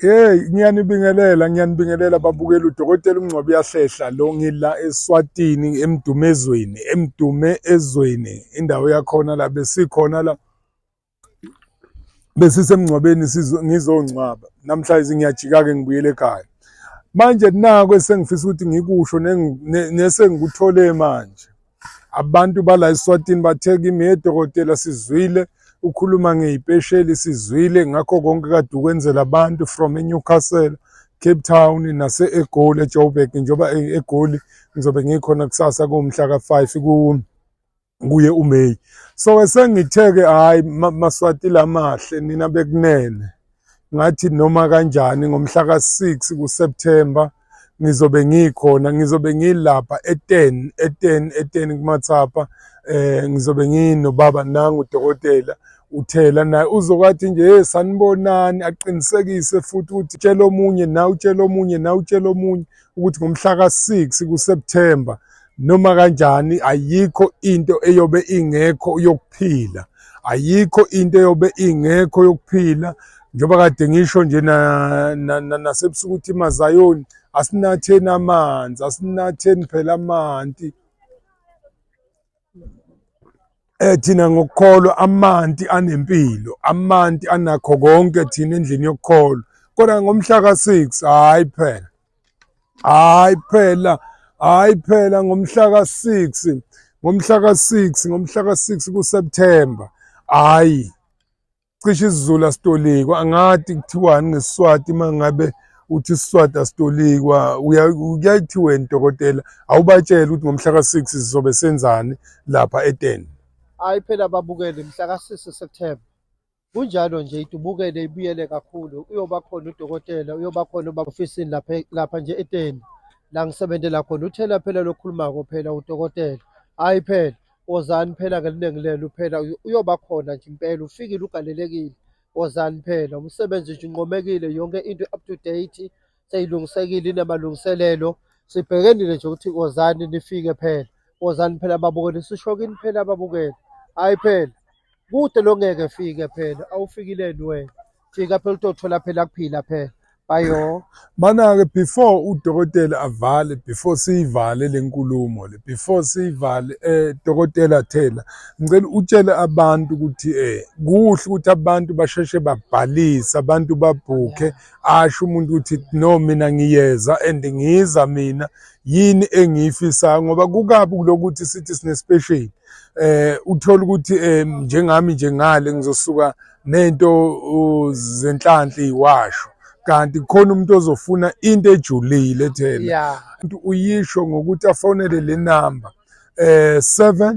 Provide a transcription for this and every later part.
Hey ngiyanibingelela ngiyanibingelela babukela udokotela uMngcwabi uyahlehla lo ngila eSwatini emdumezweni emdume ezweni indawo yakhona la besikhona la besisemngcwabeni ngizongcwaba namhlanje ngiyajika ke ngibuyele ekhaya manje naku esengifisa ukuthi ngikusho nesengikuthole manje Abantu bala eSwatini bathe kimi he dokotela sizwile ukhuluma ngeyipesheli sizwile ngakho konke kade ukwenzela abantu from eNewcastle Cape Town nase-eGoli eJoburg njengoba eGoli ngizobe ngikhona kusasa kuwumhla ka-five kuye uMay so esengithe-ke hhayi maswati lamahle nina bekunene ngathi noma kanjani ngomhla ka-six kuSeptember ngizobe ngikhona ngizobe ngilapha e-ten e-ten e-ten kumathapha um ngizobe nginobaba nangu udokotela uthela naye uzokwathi nje hey sanibonani aqinisekise futhi ukuthi tshela omunye na utshela omunye na utshela omunye ukuthi ngomhla ka-six kuSeptember noma kanjani ayikho into eyobe ingekho yokuphila ayikho into eyobe ingekho yokuphila njengoba kade ngisho nje nasebusuku ukuthi mazayoni asinatheni amanzi asinatheni phela amanti eh thina ngokukholwa amanti anempilo amanti anakho konke thina endlini yokukholwa kodwa ngomhla ka6 hayi phela hayi phela hayi phela ngomhla ka-6 ngomhla ka-6 ngomhla ka-6 kuSeptember hayi cishe isizulu asitolikwa angadi kuthiwani ngesiswati uma ngabe uthi isiswati asitolikwa kuyayithiwa wena dokotela awubatshele ukuthi ngomhla ka-6 sizobe senzani lapha eteni hayi phela babukele mhla ka-6 september Kunjalo nje idubukele ibuyele kakhulu uyoba khona udokotela uyoba khona uba ofisini lapha lapha nje eteni la ngisebenzela khona uthela phela lokhulumako phela udokotela hayi phela wozani phela ngeliningi lelo phela uyoba khona nje impela ufikile ugalelekile wozani phela umsebenzi nje unqomekile yonke into up to date seyilungisekile inamalungiselelo sibhekenile nje ukuthi wozani nifike phela wozani phela babukele sisho kini phela babukele hayi phela kude lo ngeke fike phela awufikileni wena fika phela utothola phela kuphila phela bayo mana-ke before udokotela avale before siyivale le nkulumo le before siyivale um dokotela thela ngicela utshele abantu ukuthi um kuhle ukuthi abantu basheshe babhalise abantu babhukhe asho umuntu ukuthi no mina ngiyeza and ngiza mina yini engiyifisayo ngoba kukabi kulokuthi sithi sinespecial eh uthola ukuthi eh, njengami nje ngale ngizosuka nento zenhlanhla iwasho kanti khona umuntu ozofuna into ejulile thela umuntu uyisho ngokuthi afonele le number eh 7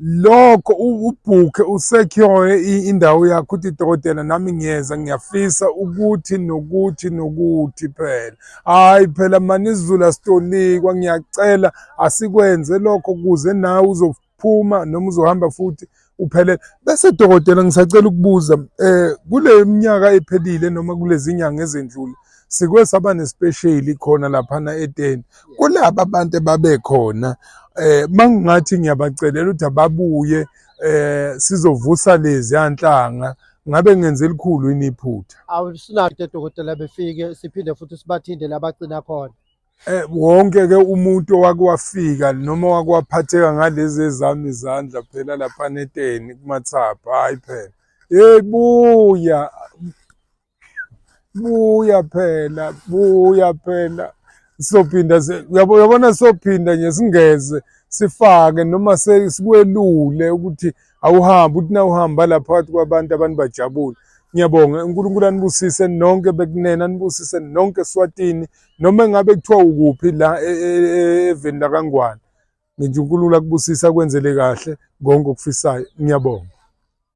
lokho ubhukhe usekhyoe indawo yakho ukuthi dokotela nami ngiyeza ngiyafisa ukuthi nokuthi nokuthi phela hhayi phela manizulu asitolikwa ngiyacela asikwenze lokho kuze nawe uzophuma noma uzohamba futhi uphelele bese dokotela ngisacela ukubuza um kule minyaka ephelile noma kulezi nyanga ezendlule sike saba nespesheli khona laphana eteni kulaba abantu ebabekhona eh mangingathi ngiyabacelela ukuthi ababuye eh sizovusa lezi yanhlanga ngabe ngenze elikhulu yini iphutha awusinade dokotela befike siphinde futhi sibathinde labagcina khona eh wonke ke umuntu owakwafika noma wakwaphatheka ngalezi ezami izandla phela lapha neteni kumathapha hayi phela hey buya buya phela buya phela sophinda uyabona sophinda nje singeze sifake noma sikwelule ukuthi awuhambi uthi na uhamba la phakathi kwabantu abantu bajabule ngiyabonga unkulunkulu anibusise nonke bekunena anibusise nonke eswatini noma engabe kuthiwa ukuphi la e, e, e, eveni lakangwane ngithi unkulunkulu akubusise akwenzele kahle konke okufisayo ngiyabonga